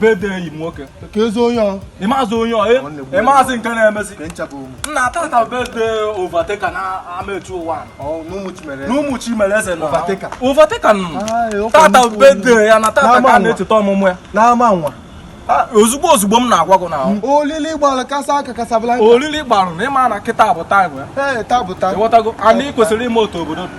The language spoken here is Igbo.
birthday enyi m nwoke ka ezi onye ọ mazị onye ọ mazị nke na-emezi na tata birthday Overtaker na amechi ụwa n'ụmụ chimere eze na Overtaker tata birthday ya na tata ka a na-echeta ọmụmụ ya n'ama nwa Ah, ozugbo ozugbo m na-agwa gị n'ahụ mm. olili gbalụ kasaa aka Casablanca olili gbalụ na ị ma na kịta bụ time ya ị ghọtago anyị kwesịrị ime otu obodo dị